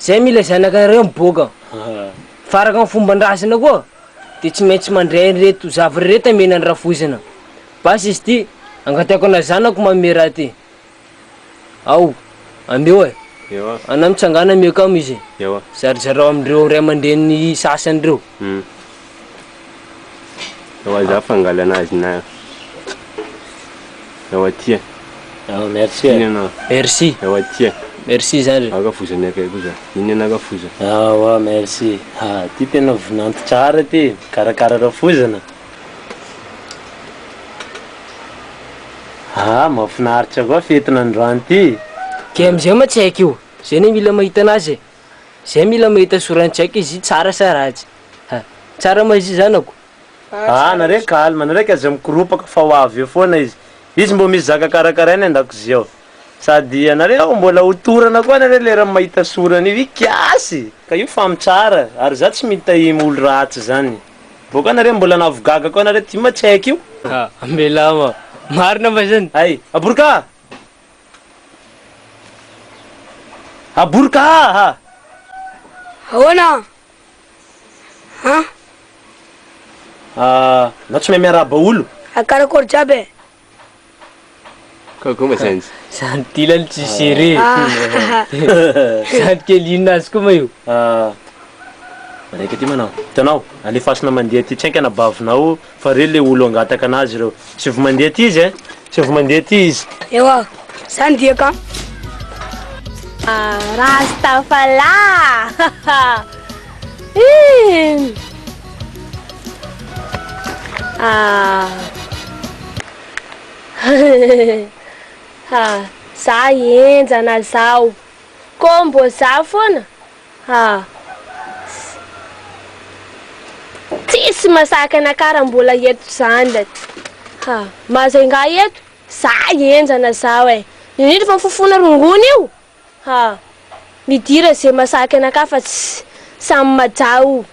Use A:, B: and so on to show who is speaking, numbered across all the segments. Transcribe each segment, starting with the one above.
A: Zay mila zanaka iray miboaka fa araka ny fomban-drazana koa dia tsy maintsy mandray an'ireto zavatra ireto amena ny rafoizina. Basy izy ity, angataiko anao zanako manome raha ity. Ao, ameo e. Anao mitsangàna ameo kamo izy e. Zarizarao amin'ireo ray aman-dreniny sasany ireo.
B: Ewa za fangalana azy na ewa tia. Ewa merci.
C: Ina na. Merci.
A: Ewa tia.
B: Merci zandry.
A: Aka foza ny akay koza.
B: Ina na aka foza. Ewa merci.
C: Ha ty tena vonanty tsara ty. Karakara rafozana. Ha mafinaritra koa fetina androany ty. Kay amzay ma
A: tsy haiko io. Zay ne mila mahita anazy e. Zay mila mahita soran-tsaiko izy tsara sa ratsy ha! Tsara ma izy zanako? Aa nareo
C: calme, nareo ka aza mikoropaka fa ho avy eo foana izy. Izy mbo misy zaka karakaraina an-dakozia ao. Sady ianareo mbola ho torana koa nareo leran'ny mahita sorany io. Ikiasy! Ka io fam tsara, ary za tsy mitahim olo ratsy zany. Vao ka nareo mbola navogaga koa nareo ty ma tsy haiko io. Aa amelama,
A: marina ma zany? Hay! Abory ka!
C: Aboroka aa!
D: Ahoana an?
C: Anao tsy mahay miarahaba olo? Ary karakôry jiaby e?
B: Kôkô mba zany. Zandry kely anie
A: tsy seré e! Zandry kely inona azy koa ma io?
C: Raika ty manao. Hitanao, alefasina mandeha aty. Tsy hainka na bavinao Fa re le olo angataka anazy reo tsy vy mandeha aty izy eh tsy vy mandeha aty izy. Ewa,
D: zany dia ka. Ah,
E: Rastafala! Hihh! Ah! Hihhihhihh! Za henjana zao. Kô mbô za fôna? Tsisy masaka na kara mbola eto zany le ha mazay nga eto za enjana zao e indrindra fa fofona rongony io ha midira ze masaka anakahy fa tsy samy majaha o.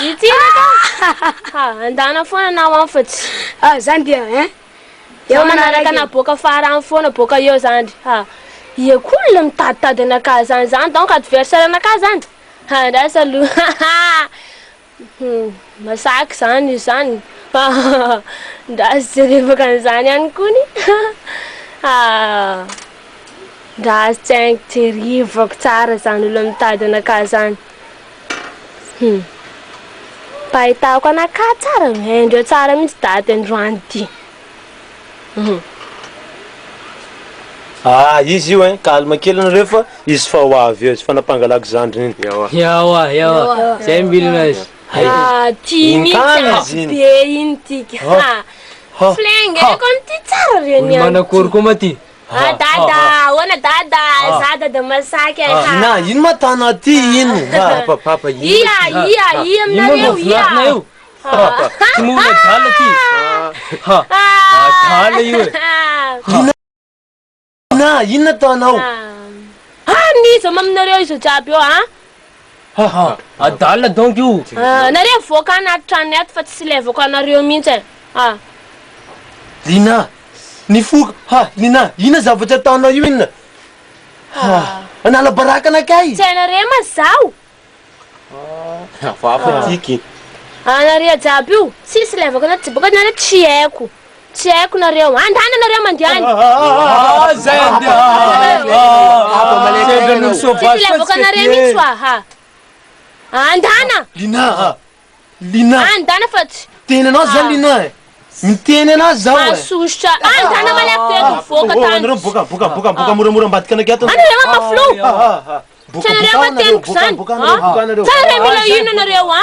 D: Ity re ka!
E: Ha, andana foana na ho any fa tsy. Ha, izany dia hein!
D: Eo
E: manaraka na boaka fara any foana boaka eo zandry ha! Ia koa olona mitaditady anakahy zany zany donc adversaire anakahy zany? Ha, andraso aloha ha ha! Hum, masaky zany io zany ha ha ha! Andraso jerevaka an'izany ihany kony ha ha! Andraso tsaingo jerevako tsara zany olona mitady anakahy zany. Hum. Pahitako ana ka tsara eh, indreo tsara mihitsy dady androany ty. Hum.
C: Ah izy io hein, calme kely anareo fa izy fa ho avy eo izy fa nampangalako zandriny iny. Ewa. Ewa, ewa. Ewa.
A: Zay milina izy. Hay. Ah ty Iny
E: mihitsy kany izy ampy iny. be iny ty ka. Ha. Ha. Flenge, Ha. kony ty tsara re ny Olo an'i ty. manakory koa ma ty. Ah dada, ahoana dada, za dada masaky ai ha.
C: Ina, ino ma tana aty ino ha. Papa papa ino
A: ma
E: ty ha. Ia ia ia
A: aminareo ia. Ino ma io papa,
E: tsy moa olona
A: adala ty ha. Adala io e. Ina,
C: ina, inona ataonao. Ah, ah,
E: n'iza ma aminareo iza jiaby eo a.
A: Haha, adala donc io! Ah, nareo mivoaka
E: anaty tranony ato fa tsy levoko anareo mihitsy eh! Ah. Lina,
C: nifoka! Ha, Lina, inona zavatra ataonao io inona? Ha, hanala baraka anakay! Tsy hainareo mantsy zaho!
E: Ah, hafahafa
C: tiky! Ah, nareo
E: jiaby io, tsisy levako anaty jibaoko ato nareo tsy haiko! Tsy haiko nareo. Andana nareo mandeha any. Ah zay
A: andehananareo.
E: Tsy mila avoakanareo mihitsy oa ha. Andana. Lina a.
C: Lina. Andana fa
E: tsy. Teny anao zany Lina
C: e. Miteny anazy zaho e. Masosotra. Andana
E: malaky be eto mivoaka tany. Anareo boka boka boka
C: boka moramora ambadika anakay ato. Anareo a maflou.
E: Tsy anareo a teniko zany. Sa anareo mila inona nareo a.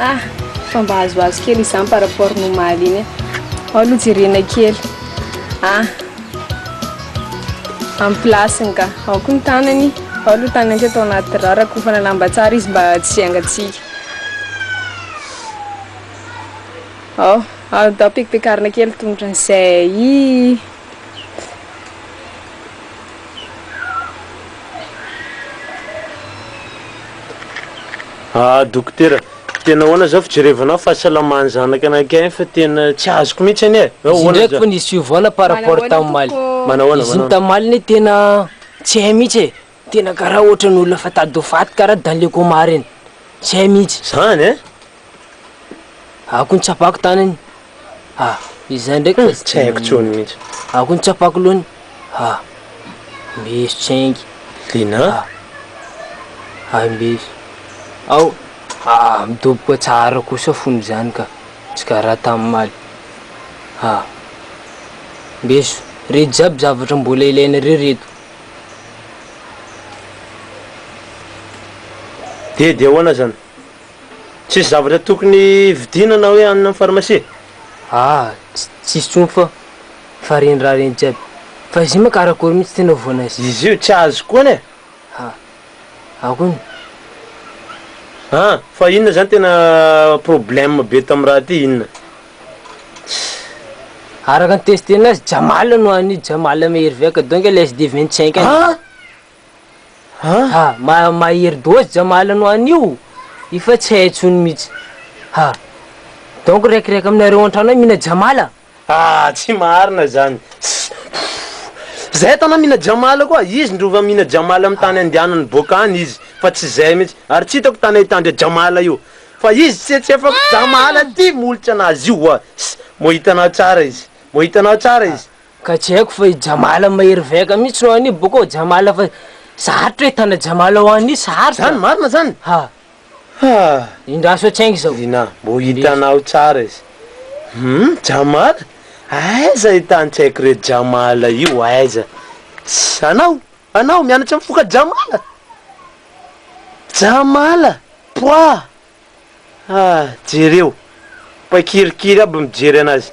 F: Ah! Fa mba azoazo kely izany par rapport ny omaly iny e. Ao aloha jerena kely. Ah! Amin'ny place-ny ka. Ao koa ny tanany. Ao aloha ny tanany teto anaty rà. Rakofana lamba tsara izy mba tsy hiangatsiaka. Ao, atao pekipekarina kely tongotra an'izay.
C: Ah dokotera, tena ahoana zao fijerevana fahasalaman'ny zanaka anankiray fa tena tsy azoko mihitsy anie e. Izy ndraiky fa nisy
A: fiovana par rapport tamin'ny omaly. Izy iny tamin'ny omaly anie tena tsy hay mihitsy e. Tena karaha ohatrany olona efa tady ho faty karaha Daleco Omar iny. Zay mihitsy. Zany
C: eh.
A: Ako ny tsapako tanany. Ah, izay ndraiky fa tsy haiko tsony mihitsy.
C: Ako ny tsapako
A: lony. Ah. Mbeso tsengy. Lina.
C: Ah.
A: Ay mbeso. Ao. Ah, midoboka tsara kosa fony zany ka. Tsy karaha tamin'ny maly. Ah. Mbeso. Reto jiaby zavatra mbola ilainareo reto.
C: Dia dia ahoana zany? Tsisy zavatra tokony vidiana na hoe hanina am pharmacie? Aa
A: tsisy tsony fa fa reny raha reny jiaby fa izy io ma karakory mitsy tena ovoana azy? Izy io tsy azo koa anie!
C: Ha
A: akony?
C: An! Fa inona zany tena problème be tam raha ty inona?
A: Araka ny test enazy Jamal no any Jamal meilleur veka donc le SD 25 any. Ha? Ha? Ha, ma mahery dose Jamal no any io. Io fa tsy hay intsony mihitsy. Ha. Donc raikiraika aminareo antrano any mina Jamal. Ah, tsy
C: marina zany. Zay tana mina Jamal koa, izy ndro va mina Jamal am tany andianany boaka any izy fa tsy zay mihitsy. Ary tsy hitako tany ahitandria Jamal io. Fa izy tse tsy efa Jamala ty molotra anazy io wa ss mo hitanao tsara izy mo hitanao tsara izy. Ka tsy haiko
A: fa i Jamala mahery vaika mihitsy no any boko ao Jamala fa sarotra e tana Jamala ho any sarotra. Zany marina zany? Ha.
C: Haa. Indraso
A: hatshainga zao. Ina mbo hitanao
C: tsara izy. Hum Jamala? Aiza i tany tsy haiko reto Jamala io aiza? Tsy anao? Anao mianatra mifoka jamala? Jamala? Poah! Ah jereo! Mpaikirikiry aby mijery anazy.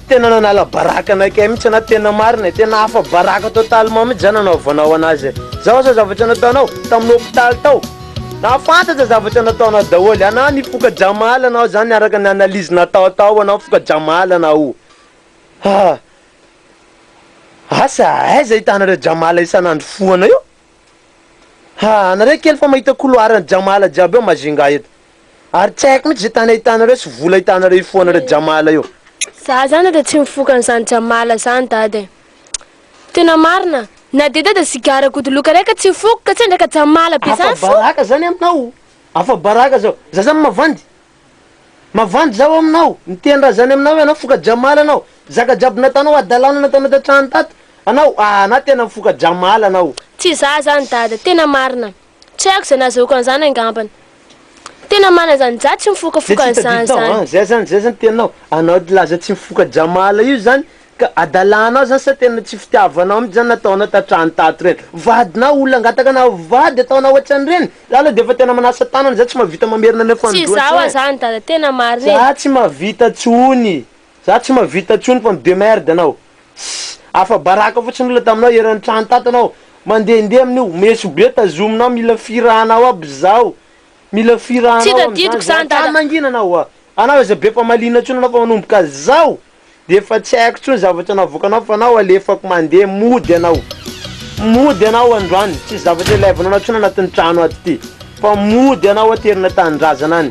C: Tena nanala baraka anakay mihitsy anao tena marina e, tena afa-baraka totalement mihitsy zany nanaovanao anazy e. Zao asa zavatra nataonao tamin'ny hopitaly tao. Nahafantatra zavatra nataonao daholo ianao ny foka Jamal anao zany araka ny analyse natao tao anao foka Jamal anao ah asa aiza ahitanareo Jamal isan'andro fohana io ah anareo kely fa mahita couloir an'i Jamal jiaby eo Majunga eto Ary tsy haiko mihitsy izay tany ahitanareo sy vola ahitanareo hifohanareo jamala eo. Za zany de tsy
E: mifoka an'izany jamala zany dada e! Tena marina, na dia dada sigara godoloka iray ka tsy hifoko ka tsendraka jamala be zany fo! Afa-baraka zany aminao,
C: afa-baraka zao, za zany mavandy, mavandy zaho aminao, miteny-draha zany aminao hoe anao foka jamala anao, zaka jiaby nataonao hadalana nataonao tan-trano tato, anao,
E: ah, anao
C: tena
E: mifoka
C: jamala
E: anao.
C: Tsy za zany dada,
E: tena
C: marina. Tsy
E: haiko izay nahazoako an'izany angambany. Tena manana izany izaho tsy mifokafoka an'izany izany. Zay zany zay zany tenao
C: anao laza tsy mifoka jamala io zany ka adalanao zany sa tena tsy fitiavanao mitsy zany nataonao tatrany tato reny vadinao olona angataka na vady ataonao otrany reny za lo defa tena manasa tanana za tsy mavita mamerina ny afandroany
E: tsy oe za tsy mahavita
C: tsony. Za tsy mahavita tsony fa midemerde anao ssy afa baraka fotsiny olona taminao eran'ny trano tato anao mandehandeha amin'io meso be tazominao mila firahanao aby zaho mila Tsy firahanao amizany tadidiko za zany hatrany dada. mangina anao a anao aza be famaliana tsony anao fa manomboka zao de efa tsy haiko tsony zavatra navoakanao fa anao alefako mandeha mody anao mody anao androany tsisy zavatra ilaivanao anao tsony anatin'ny trano ato ty fa mody anao aterina tanindrazana any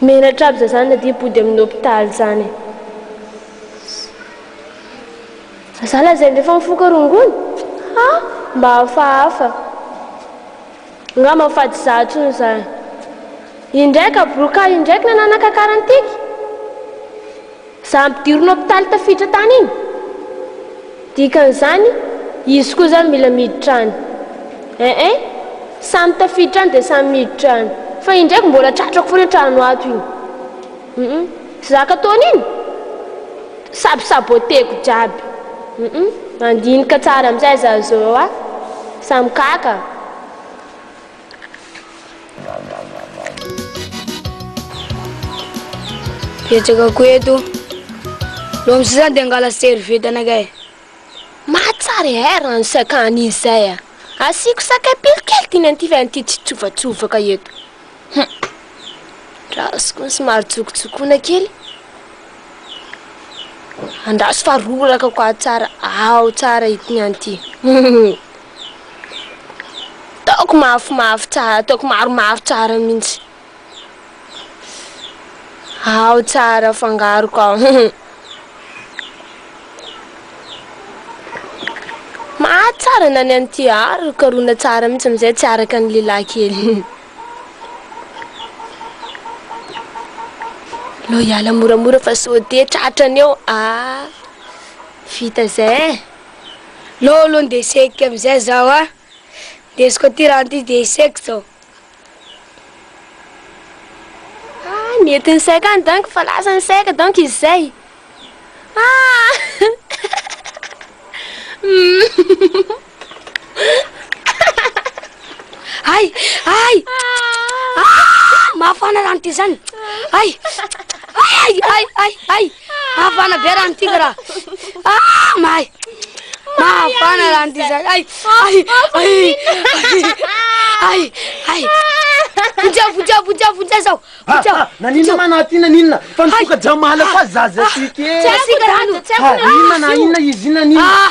E: Menatra aby za zany na dia body aminy hopitaly zany za za lazainy refa mifoka rongony ha mba hafahafa ngamba ny fady za tsony zany indraika broka indraiky nananaka karantiky. Za ampidirina hopitaly tafiditra tany iny? Dikan'izany izy koa zany mila miditra any. Eeh samy tafiditra any dia samy miditra any. Fa iny ndraiky mbola tratrako foana trano ato iny. Humm zaka ataony iny sab saboteko jiaby. Humm mandinika tsara amizay za zao a. Samy kaka.
D: Betsaka koa eto. Lo amizay zany dia angala serviette anaka e. Mahatsara
E: e eh, rano saka an'i izay a. Ah. Asiako sakay pilo kely ty nentify an'ity tsitsovatsovaka eto. Hum. Rasiko ny somary tsokotsokona kely. Andraso fa roraka ko aho tsara, aho tsara ity an'ity. Ataoko mafimafy tsara, ataoko maromaro tsara mihitsy. Ao tsara fangaroko ao. Mahatsara na ny an'ity ary karoana tsara mihitsy amin'izay tsy araka ny lehilahy kely. Lo hiala moramora fa sao dia tratran'eo. Ah, vita izay. No
D: aloha ndeha sehiko amizay zaho a! Ndesiko aty rano ty de iseko zao.
E: Ah nety ny saiko any donc fa lasa ny saiko donc izy zay.
D: Ay! Ay! Ah! Mafana rano ty zany! Ay! Ay! Ay! Ay! Ay! Afana be raha ny tika raha. Ah, may. Maafana raha ny tika. Ay, ay, ay, ay, ay, ay. Vonjeo, vonjeo, vonjeo, vonjeo zao. Vonjeo. Ah, ah, naninona ma
C: naty naninona? Fa nifoka jamala koa zaza ah, tiky. Tsy asika rano. Inona na inona izy inona nina.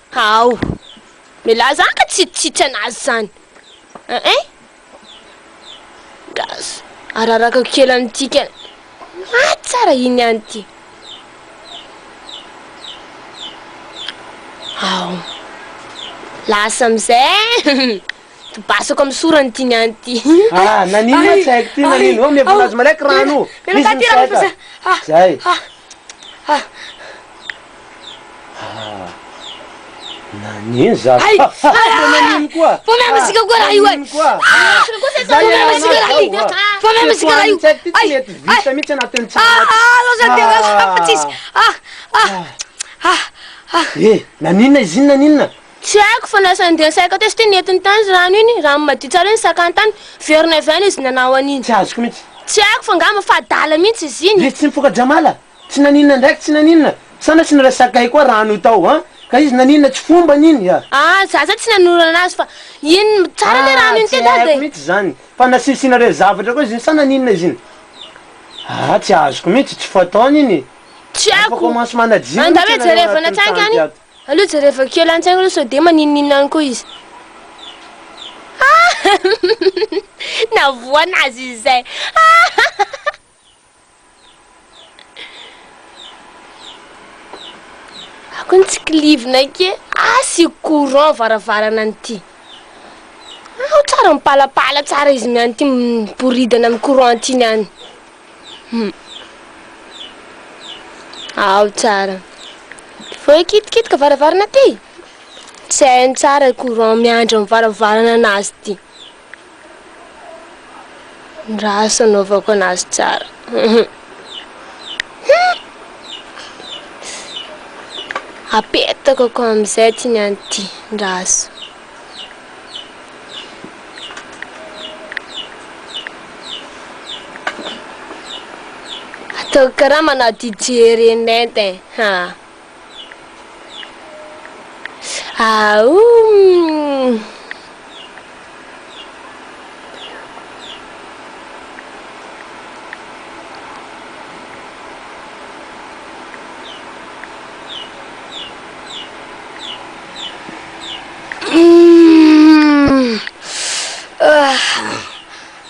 E: Hao. Milaza anka tsy tsy tsy anazy zany eh eh. Gas. Ararakako kely amintsika. Ah tsara iny ihany ity. Hao. Lasa amizay. Tobasako amin'ny sorany ity ny any ity. Ah nanino ma
C: tsy haiko ty nanino. Oa miavonazy malaiky rano. Misy ny saika. Zay. Nani zah. Ay! Famehana zika koa raha io e. Famehana zika raha
D: io. Famehana zika raha io.
C: Ay! Ay! Ah, lôza dia lôza
D: fa tsisy. Ah,
C: ah, ah, ah. E, naninona izy iny naninona? Tsy haiko fa lasa
E: ndeha saika teo satria nentiny tany ny rano iny, raha madio tsara iny sakany tany, very navy any izy nanao an'iny. Tsy azoko mihitsy. Tsy
C: haiko fa ngamba
E: fa adala mihitsy izy iny. Izy tsy
C: mifoka-dramala? Tsy naninona ndraiky tsy naninona. Sanatry tsy niresakay koa rano tao an! Ka izy naninona tsy fombany iny an! An! za zany tsy nanoro
E: anazy fa iny tsara le rano iny te dada e! An! tsy haiko mihitsy zany fa
C: nasisinareo zavatra koa izy iny sa naninona izy iny? An! tsy azoko mihitsy, tsy fataony iny e! Tsy haiko! Efa commence
E: manadino mihitsy ianareo anatin'ny
C: tanty ato! Andao hoe jerevana
E: an-tsaingy any! Aleo jerevako kely an-tsaingy aloha sao dia maninon'inona any koa izy! An! navoana azy izay! An! Ako ny tsikilivinay ke asio courant varavarana an'ity. Ao tsara mipalapala tsara izy miany ity miboridana amin'ny courant ity niany. Hmm. Ao tsara. Vao kitikitika varavarana ity. Tsy hainy tsara courant miandry amin'ny varavarana anazy ity. Ny raha asa anaovako anazy tsara. Apetako akao amin'izay ty ny any ty ny raha asa. Ataoko karaha manao DJ Renet eh. Ha.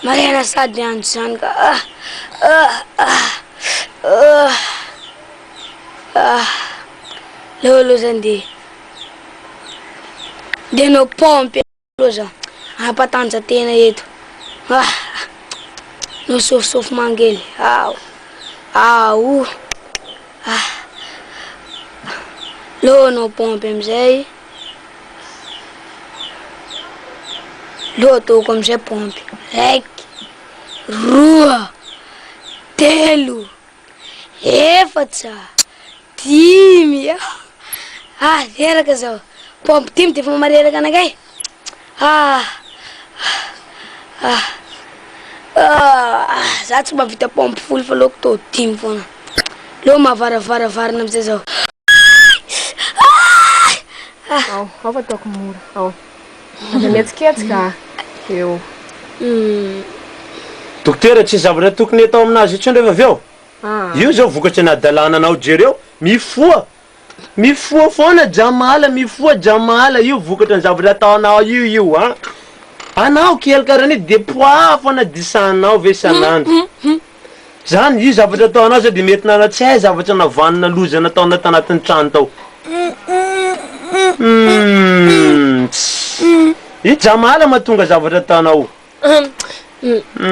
D: Marihana sady miandry izany ka. Ah, leo aloha zany de de no pompe aloha zany, hampatanjatena eto. Ah, no sofosofo mangely. Ao, ao, ah, leo no pompe amizay. Leo ataoko amizay pompe, raiky, roa, telo. efatra, dimy, ah reraka izao, paompy dimy dia efa mareraka anakay, ah ah ah, za tsy mahavita paompy folo fa aleoko tao dimy foana, aleo mahavaravaravaravarana amizay zao, ah ah
F: ah. Ao, ao fa ataoko mora, ao. Aza mihetsiketsika eo.
C: Dokotera tsisy zavatra tokony atao aminazy intsony rehefa avy eo? Io zao vokatry ny adalana anao jereo mifoha mifoha foana jamala mifoha jamala io vokatry ny zavatra ataonao io io an! Anao kely karaha an'io de poaha foana disahinao ve isan'andro? Zany io zavatra ataonao sao de mety nanao tsy hay zavatra navanona loza nataonao tanatin'ny trano tao. Humm tss i Jamala mahatonga zavatra ataonao.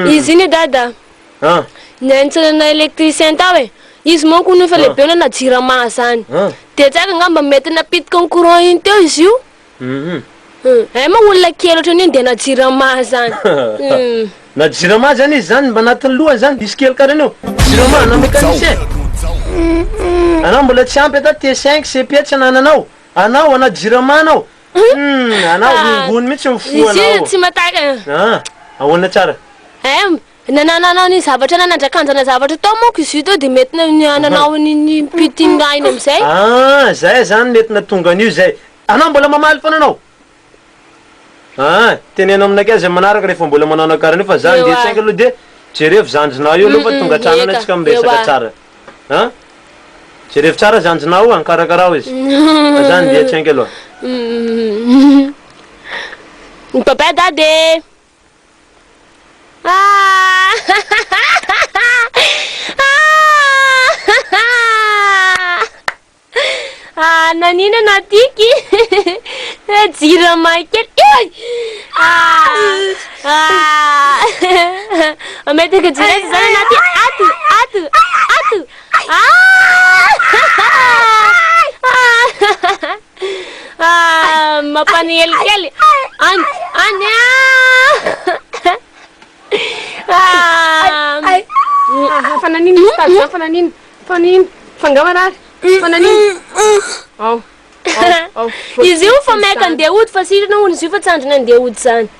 E: Izy iny dada niantsona na electricien tao e, izy manko hono efa lehibe nanao jirama zany de tsary angamba mety napitika ny courant iny teo izy io Hum. Ay moa olona kely ohatran'io ny dna jirama zany hum. Na
C: jirama aza anie zany mba anatin'ny lohany zany diso kely kara anao jirama na mécanicien anao mbola tsy ampy ata T-cinq CEPIA tsy anananao anao ana jirama anao hum anao rongony mitsy ny fo anao
E: ah ahoana tsara
C: eh Na
E: nananao ny zavatra na nandrakanjana zavatra tao manko izy io teo dia mety nananao an'iny mpitin raha iny amin'izay. Ah, zay zany
C: mety natonga an'io zay. Anao mbola mamaly foana anao? Ah, teneno aminay kay zay manaraka rehefa mbola manao anao karaha an'io fa za nge saingy aloha dia jerevo zandrinao io aloha fa tonga hatrany anao tsika miresaka tsara an! Jerevo tsara zandrinao an! Karakarao izy fa za nge tsaingy aloha.
E: Ny Papa Dada e! Naninona tiky jirama kely Mametaka jirama zany anaty ato ato ato Ah, mampaniely kely. Any, any. Ah. Ay, ah,
F: fa nanino misy tazo zany, fa nanino, fa nanino, fa nga marary, fa nanino. Ao, ao, ao.
E: Izy io fa maika andeha hody fa sitrana hono izy io fa tsy andriny andeha hody zany.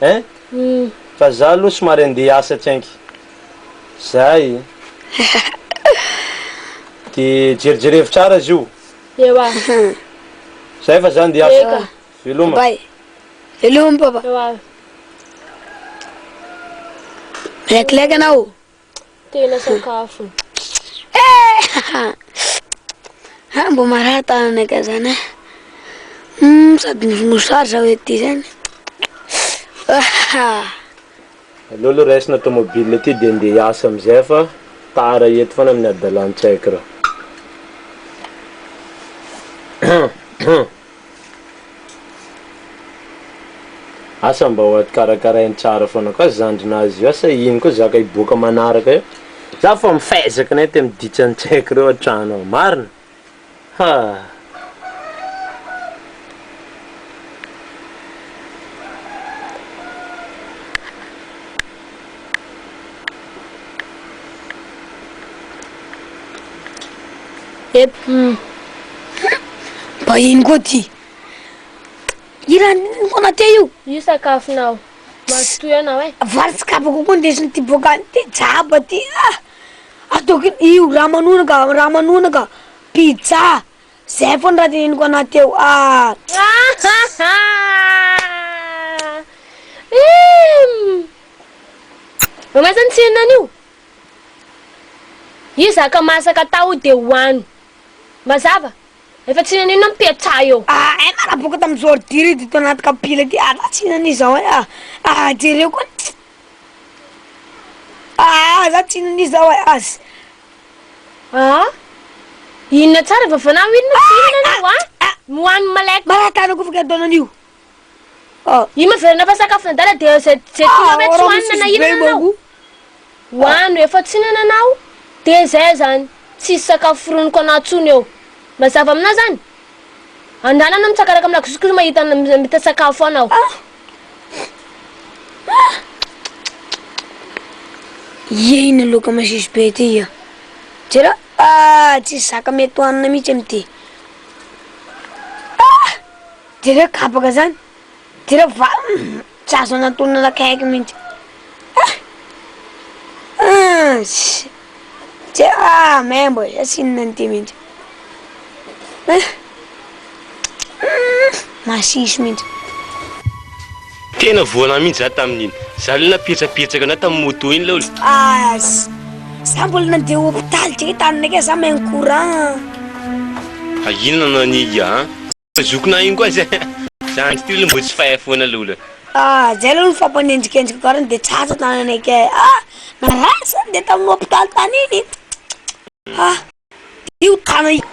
C: Hein? Fa za aloha somary andeha hiasa tsy anky zay de jerijery hevitra ara zio. Ewa. Zay fa za andeha hiasa. Eka. Veloma. Bye. Veloma
D: papa.
E: Ewa.
D: Milekileka anao.
E: Tena
D: sakafo. Ah, mbo marary tananay ka zany eh. Hmm, sady ny mosary zao ety zany. Ah.
C: Aleo aloha raisina tomobile ity dia ndeha hiasa amin'izay fa tara eto foana amin'ny adalan-tsaiko raha. Asa mba ho karakarainy tsara foana koa zandrinazy io asa iny koa zaka hiboaka manaraka eo za fa mifezaka ny aty amin'ny ditsa ny tsy haiko reo an-trano ao marina ha
D: Mba ino koa ty? Hiran'i Konate io? Io sakafonao.
E: Mazotoa ianao e. Vary tsy kabako koa
D: ndesiny ty boka any ty jaba ty. Ah! Ataoko io raha manoana ka, raha manoana ka. Pizza, Zay fony raha dinihiko anao teo ah.
E: Mahaiza ny tsiriny an'io? Io zaka masaka atao dia hohano. Mazava? Efa tsy hihinana inona mipetsaha eo. Ah eh maraboka tamin'ny
D: zordi ry dito anaty kapila ity ary raha tsy hihinana izao eh ah. Ah jereo koa. Ah za tsy hihinana izao eh az. Aa!
E: Inona tsara vavana ho inona sy inona anao a! Ny ho an'ny malaika. Maraka anao koa fa gardon anio.
D: Aa!
E: Io maverina fa sakafo nadala dia izay izay tianao ve tsy ho hanina na inona anao. Ho ano efa tsy hinana anao dia izay izany tsisy sakafo foroniko anao tsony eo. Mazava aminao izany? Andalana mitsakaraka amin'ny lakozia kosa mahita anao miambita sakafo foana aho. Iye
D: iny loka masiso be ity ia. Jereo ah tsisy zaka mety hohanina mihitsy amin'ity. Ah! Jereo kabaka zany. Dia ilay vavany tsy azo anantonana akaiky mihitsy. Ah! Ah! Tsy ah, membo e, asinina an'ity mihitsy. Ah! Hmm, masiso mihitsy.
B: Tena voana mihitsy za tamin'iny. Za le napietsapetsaka na tamin'ny moto iny laolo. Ah!
D: Za mbola nandeha hopitaly tse tany neke za main courant.
B: Fa inona no ania an? Zokona iny koa zay. Zandry ty aloha mbo tsy fay foana lola. Ah zay aloha ny
D: fampanenjikenziko garany de tsatsa tany anay kay ah narary zany de tamin'ny hopitaly tany iny ah io tana io.